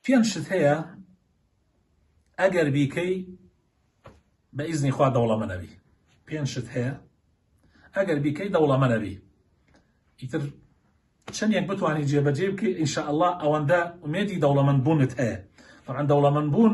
پێنج شت هەیە ئەگەر بیکەی بە ئیزنی خوا دەوڵەمەنەبی پێنج شت هەیە ئەگەر بیکەی دەوڵەمەنەبی ئیتر چەندێک بتوانانی جێبەجێ بکەی ئینشاءله ئەوەندە ئومێدی دەوڵەمەند بوونت هەیە طبعا دەوڵەمەند بوون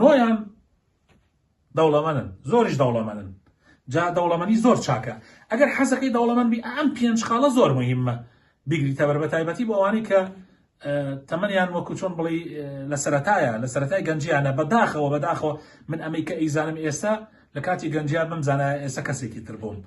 نۆیان دەوڵەمەنن زۆریش دەوڵەمەنن جا دەوڵەمەنی زۆر چاکە ئەگەر حەزەکەی دەوڵەمەن بی ئەم پێنج خاڵە زۆر مهمە بیگری تەبەر بە تایبەتی بۆ ئەوانەی کە تەمەنیان وەکو چۆن بڵی لە سەتایە لە سەتای گەنجیانە بەداخەوە بەداخەوە من ئەمەی کە ئەیزانم ئێستا لە کاتی گەنجیان بم زانایە ئێسە کەسێکی تر بووم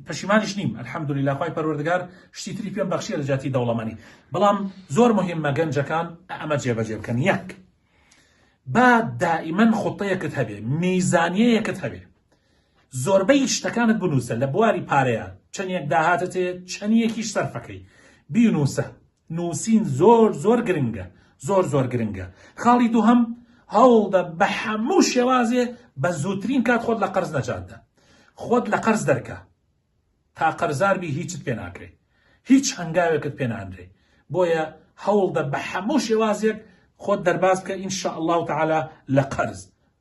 پەشیمانیش نیم الحمدللە خوای پەروەردگار شتی تری پێم بەخشیە لە جاتی دەوڵەمەنی بەڵام زۆر مهمە گەنجەکان ئەمە جێبەجێ بکەن یەک با دائیمەن خوتەیەکت هەبێ میزانیەیەکت هەبێ زۆربەی شتەکانت بنووسە لە بواری پارەیە چەندێک داهاتەتێ چەندیەکیش سەرفەکەی بینووسە نوسین زۆر زۆر گرنگە زۆر زۆر گرنگە خاڵی دووهەم هەوڵدە بە حەموو شێوازێ بە زووترین کات خۆت لە قەرز نەجاتدە خۆت لە قەرز دەرکە تا قەرزاربی هیچت پێ ناکرێ هیچ هەنگاوێکت پێ نانرێ بۆیە هەوڵدە بە حەموو شێوازێک خۆت دەرباز بکە ئینشاء الله تعالی لە قەرز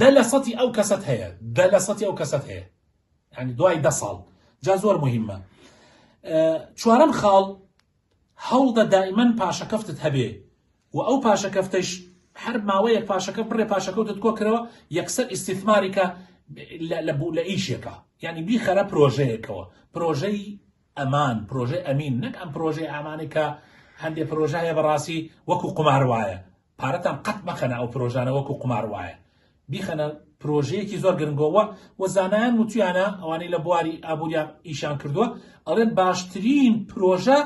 دە لە سەتی ئەو کەسەت هەیە دە لە سەتی ئەو کەسەت هەیە یعنی دوای دە ساڵ جا زۆر مهمە چوارەم خاڵ هەوڵدە دائیمەن پاشەکەفتت هەبێ و ئەو پاشەکەفتەش هەر ماوەیەک پاشەکە بڕێ پاشەکەوتت کۆکرەوە یەکسەر ئیسیثماریکە لە بوو لە ئیشێکە یعنی بیخەرە پرۆژەیەکەوە پرۆژەی ئەمان پرۆژەی ئەمین نەک ئەم پرۆژەی ئامانەکە هەندێک پرۆژایە بەڕاستی وەکو قمار وایە پارەتان قەت مەخەنە ئەو پرۆژانە وەکو قومار وایە بیخەنە پرۆژەیەکی زۆر گرنگۆ وە وە زانایان وتویانە ئەوانەی لە بواری ئابووریان ئیشان کردووە ئەڵێن باشترین پرۆژە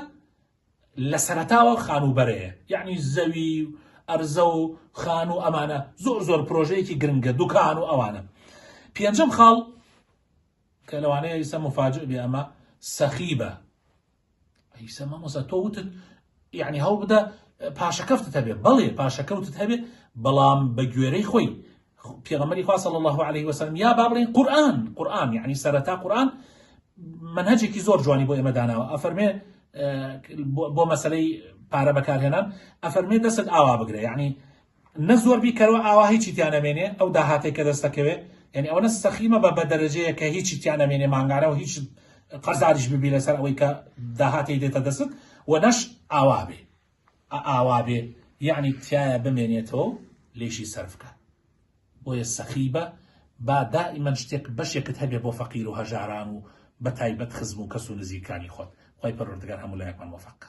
لە سەرەتاوە خانووبەرەیە یعنی زەوی و ئەرزە و خان و ئەمانە زۆر زۆر پرۆژەیەکی گرنگە دوکان و ئەوانە پێنجم خاڵ کە لەوانەیە ئیسە مفاجئ بێ ئەمە سەخیبە ئیسە مامۆسا تۆ وتت یعنی هەوڵ بدە پاشەکەفتت هەبێ بەڵێ پاشەکەوتت هەبێ بەڵام بە گوێرەی خۆی پێغەمەری خوا صلی الله عليه وسلم یا با بڵێن قورآن قورآن یعنی سەرەتا قورآن منهجێکی زۆر جوانی بۆ ئێمە داناوە ئەفەرمێ بۆ مەسلەی پارە بەکارهێنان ئەفەرمێ دەست ئاوا بگرە یعنی نە زۆر بیکەرەوە ئاوا هیچی تیا نەمێنێ ئەو داهاتەی کە دەستەکەوێ یانی ئەوەنە سەخی مەبە بە دەرەجەیە کە هیچی تیا نەمێنێ مانگانە و هیچ قەرزاریش ببی لەسەر ئەوەی کە داهاتی دێتە دەستت و نەش ئاوا بێ ئاوا بێ یعنی تایە بمێنێتەوە لێشی سەرفکە بۆیە سەخی بە با دائیمەن شتێک بەشێکت هەبێ بۆ فەقیر و هەژاران و بە تایبەت خزم و کەس و نزیکانی خۆت خۆی پەروەردگار هەموو لایەکمان وەفەقە